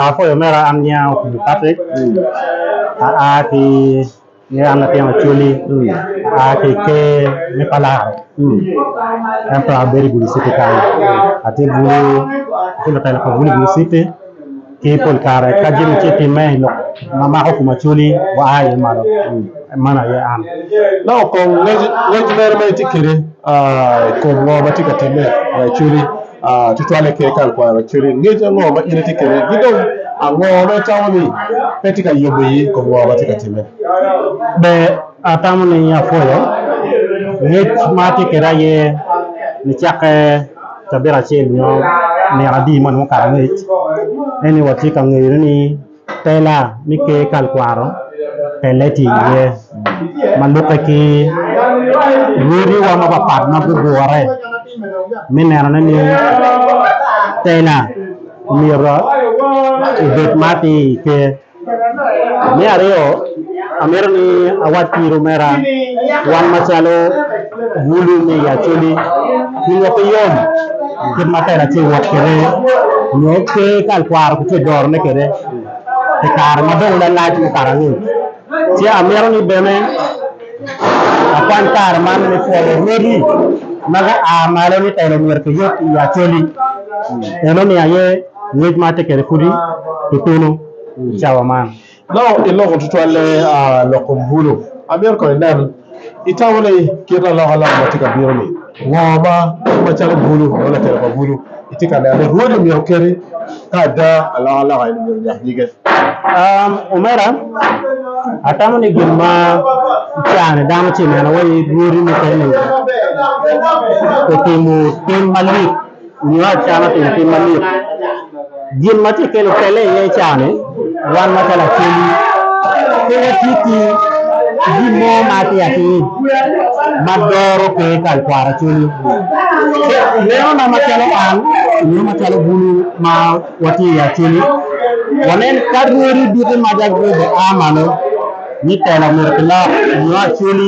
Apoyo mera an nyinga Opiyo Patrick, aa ki nge an latin Acholi, aa ki ker me Palaro, ento abedo i Gulu citi kany, atye bulu, atye lutela pa bulu i Gulu citi, ki pol kare ka jami tye timme i lok ma mako kom Acholi wa a iye malo, mano aye an. Dok kong ngec meno ma itye kede i kom ngo ma tye ka timme i Acholi. Tutwalle ki hekalu pa Araceli, ngec ango ma in itye kwede, ki dong ango ma itamo ni pe tye ka yomo iyi i kom ngo ma tye ka timme? Ber atamo ni apwoyo ngec ma atye kwede aye nicakke cabit acel nyo nino adi ma onongo okato angec. Ento watye ka ngeyone ni Tela me Ker Kalkwaro telle tye iye ma lukke ki rwodiwa mapatpat ma gugure me nenone ni tela omyero obed ma atir i Ker. Me aryo, amito ni awac ki irumera wan macalo Wulu me Yaculi, Pingo pe yom kit ma Tera tye ka wot kwede nyo pe ka alworo kitye ka dorone kwede pi kare ma dong lalac mukato angec? Ci amito ni bene akwany kare man me pwoyo rwodi ma gua malo ni telo myero kiyub i Yaculi. Enoni aye ngec ma atye kwede kudi tutunu i cawa man. Nongo iloko tutwalle a loko bulu. Amito kono inen itamo ni kit alokaloka ma tye ka bino ni ngo ma kit macalo bulu nongo lakelo pa bulu itye ka neno ni rwodi omyero oketi ka ada alokaloka eni omyero onyak nyige? Omera, atamo ni gin ma icara-ni dano tye ka neno waci rwodi mukene otimo tim malit. nyo acama pi gitim ma lik. Gin ma tye kelo pelle iye i cawa ni wan ma calo akendi pe watye ki gin mo ma atir atir ma doro pe kal kwara cwiny. Ineno na ma calo an nyo ma calo bulu ma watye i acwiny wanen ka rwodi duki ma dagwede a malo ni telo omyero ki lok nyo acwiny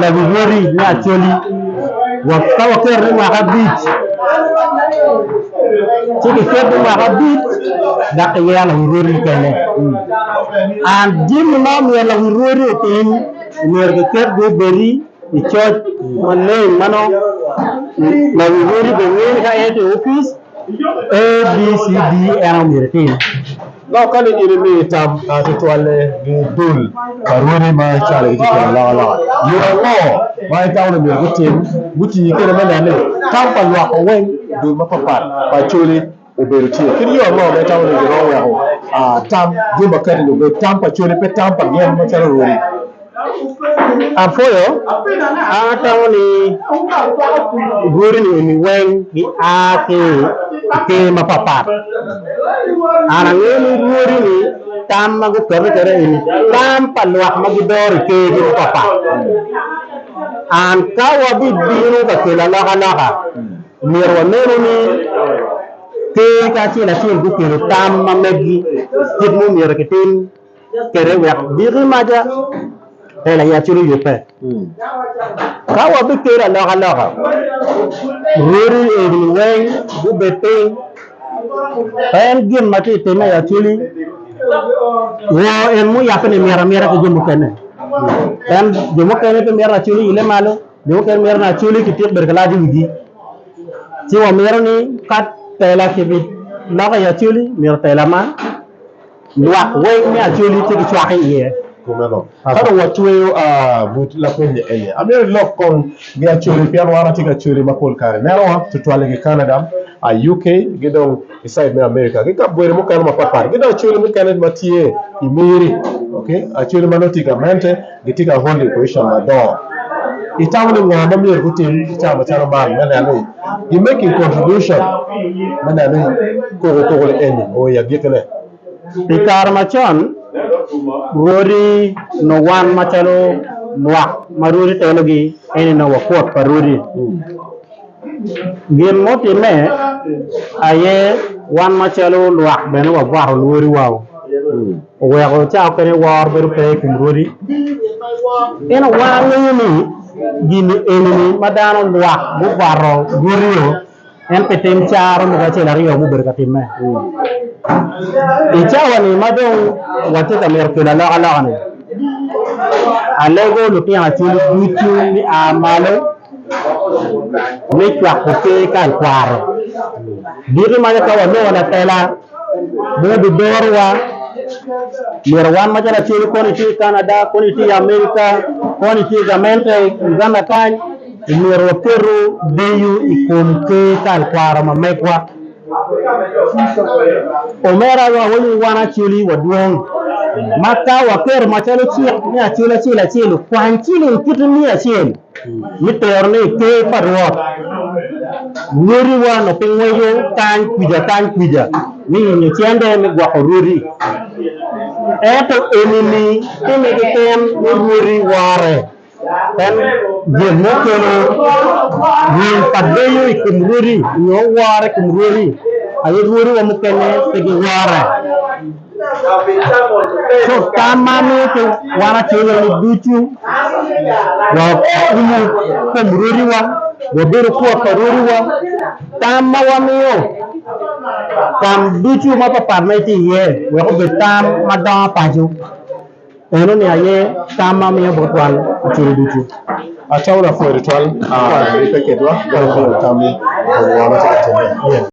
Lawiwoti me Acholi, wa ka waketo ni mwaka abic, ci kiketo ni mwaka abic dok kiyero lawiwoti mukene. An jami ma omyero lawiwoti otim, omyero kiketgi obedi i coc maleng ma nongo lawiwoti bene ngene ka en tye i opic, A, B, C, D en aye omyero etim. Dok ka ni in imiyo tam ma tutwalle gi dul pa rwodi ma icwalo gitye kwede alokaloka, yo ango ma itamo ni myero gutim guti kwede me neno ni tam pa lwakko weng dul mapatpat pa Acholi obedo tye? Kit yo ango ma itamo ni giromo weko tam jami makati-ni obed tam pa Acholi pe tam pa gin macalo rwodi? Apwoyo, an atamo ni dwodini eni weng gia ki i ker mapapat. An angeyo ni dwodini tam ma guketo kede eni tam pa lwak ma gidoro i kergi mapapat. An ka wabibino ka kelo alokaloka myero wanenu ni ker kacel acel guketo tam ma meggi kit ma omyero kitim. kwede wek giki maca pe layacciwu yubbe. Ka wabikelo alokaloka, rwodi egini weng gubed piny, pe en gin ma tye ka timme i Acholi woo en muyabbe ni mito amita ki jo mukene. Pien jo mukene pe mito ni Acholi oile malo, jo mukene mito ni Acholi kityeko bedo ka lac i wigi. Ci wamito ni ka tela kibiloko i Acholi myero tela ma. Lwak weng me Acholi tye ki cwak i iye. Ka dong watweyo but lapeny-ni eni, amyero ilok kong gi Acholi pien wan watye ki Acholi ma pol kare neno wa tutwal i nge Canada, UK ki dong i side me America ki kabedo mukene mapat pat. Ki dong Acholi mukene ma tye i Miri, Acholi ma nongo tye i gamente. Gitye ka holi poicon madongo. Itamo ni nga ma myero gutim ki cawa macalo man me neno ni gi making contribution me neno ni koko koko ni eni oo i agiki ne? I kare macon, rwodi onongo wan macalo lwak ma rwodi telogi eni onongo wakot pa rwodi. Gin mutimme aye wan macalo lwak bene wabwato rwodi wa o. Oweko cawa okene woro bedo pe i kom rwodi. Pien awar winyo ni gini enini ma dano lwak gukwato rwodi-o en pi tim caro mogo acel aryo ma obedo ka timme. I cawa-ni ma dong watye ka mito kelo alokaloka-ni, alego lutino acwali ducu ni a malo me cwako pe ka i kwaro. Diki ma ka wanongo lapela mo bidorowa, myero wan macalo acwiny koni tye i Canada, koni tye i America, koni tye i gamente i Uganda kany, myero waketo deyo i kom pe ka i kwaro ma megwa. Omerawa awaco ni wan Acholi wadwong ma ka waketo macalo cik ni Acel acel acel okwany ciling kiti miya acel, Mi tero ni i Ker pa Rwot rwodi wa onongo pe ngweco kany kwica kany kwica me yenyo cente me gwoko rwodi. Ento enini timme keken ni rwodi wore. En gin mo kelo wil pa deyo i kom rwodi nyo woro i kom rwodi, aye rwodi wa mukene pe giwore. Cuk tam ma amito wan Acilooni ducu wakumo kom rwodiwa, wabedo kwot pa rwodiwa. Tam ma wamiyo tam ducu mapatpat ma itye iye wek obed tam ma dongo paco enoni aye tam ma amiyo bot wan Acilo ducu. Acalo lapwony tutwal, pe ketwa ka wapwonyo tam ma Lubanga tye ka timme.